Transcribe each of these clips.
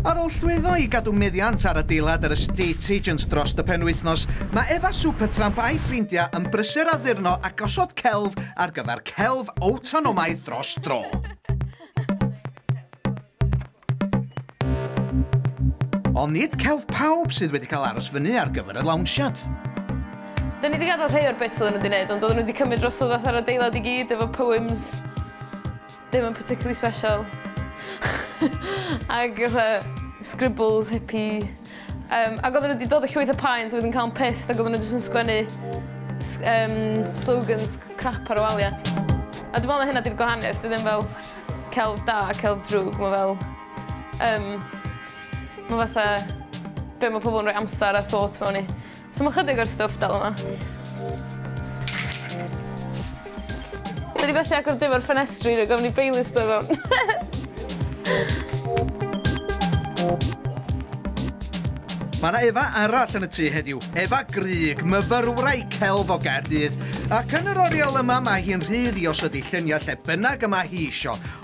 Ar ôl llwyddo i gadw meddiant ar adeilad yr estate agent dros y penwythnos, mae Efa Supertramp a'i ffrindiau yn brysur addurno a gosod celf ar gyfer celf awtonomaidd dros dro. Ond nid celf pawb sydd wedi cael aros fyny ar gyfer y lawnsiad. Dyn ni wedi gadael rhai o'r bits oedden nhw wedi gwneud, ond oedden nhw wedi cymryd drosodd fatha'r adeilad i gyd efo poems. Dim yn particularly special. Ag fatha scribbles hippie. Um, ac oedden nhw wedi dod o llwyth o paent a wedyn cael yn pissed ac oedden nhw jyst yn sgwennu um, slogans crap ar y waliau. A dwi'n meddwl na hynna di'r gwahaniaeth, dwi ddim fel celf da a celf drwg, mae fel... Um, mae fatha... Be mae pobl yn rhoi amser a thought mewn i. So ma' chydig o'r stwff dal yma. Dwi 'di methu agor dim o'r ffenestri rag ofn i Baileys do' fewn. Ma' 'na Eva arall yn y tŷ heddiw. Eva Grug, myfyrwraig celf o Gaerdydd. Ac yn yr oriel yma mae hi'n rhydd i osod ei lluniau lle bynnag y mae hi isio.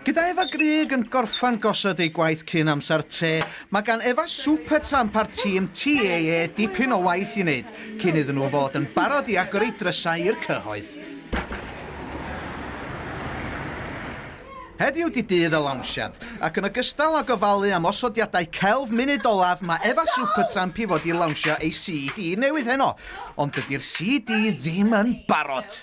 Gyda Efa Grug yn gorffen gosod ei gwaith cyn amser te, mae gan Efa Supertramp a'r tîm TAA dipyn o waith i wneud cyn iddyn nhw fod yn barod i agor eu drysau i'r cyhoedd. Heddiw 'di dydd y lawnsiad, ac yn ogystal â gofalu am osodiadau celf munud olaf mae Efa Supertramp i fod i lawnsio ei CD newydd heno, ond dydi'r CD ddim yn barod!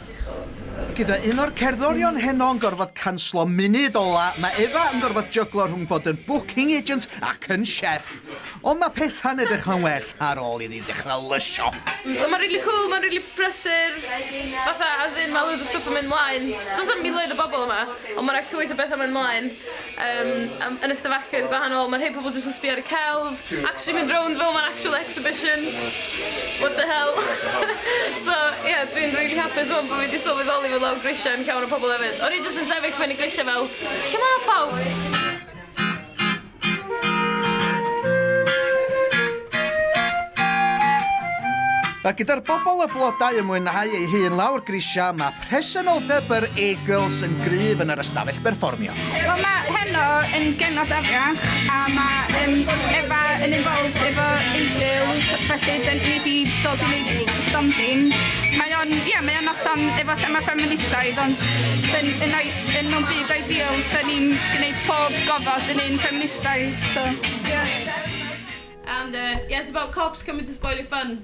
Gyda un o'r cerddorion heno yn gorfod canslo munud ola, mae Eva yn gorfod jyglo rhwng bod yn booking agent ac yn chef. Ond mae pethau'n edrych yn well ar ôl iddi dechrau lysio. Mae'n rili cwl, mae'n rili brysur, fatha as in mae loads o stwff yn mynd mlaen. Does 'na'm miloedd o bobl yma, ond mae 'na llwyth o bethau'n mynd mlaen. Yym, am- yn y stafelloedd gwahanol, ma' rhei pobl jyst yn sbio ar y celf, actually mynd rownd fel ma'n actual exhibition. What the hell? so, ie, yeah, dwi'n rili hapus rwan bod fi wedi sylweddoli fod lawr grisiau yn llawn o pobl hefyd. O'n i jyst yn sefyll fyny grisiau fel, lle mae pawb? Mae gyda'r bobl y blodau yn mwynhau ei hun lawr grisiau, mae Presenoldeb yr Eagles yn gryf yn yr ystafell berfformio. Wel mae heno yn genod afiach a mae um, Efa yn involved efo Eagles felly dyn ni wedi dod i wneud stondin. Mae o'n, ie, yeah, mae o'n noson efo thema ffeministaidd ond sy'n yn, yn mewn byd ideal sy'n ni'n gwneud pob gofod yn un ffeministaidd. So, yeah. And uh, yeah, it's about cops coming to spoil your fun.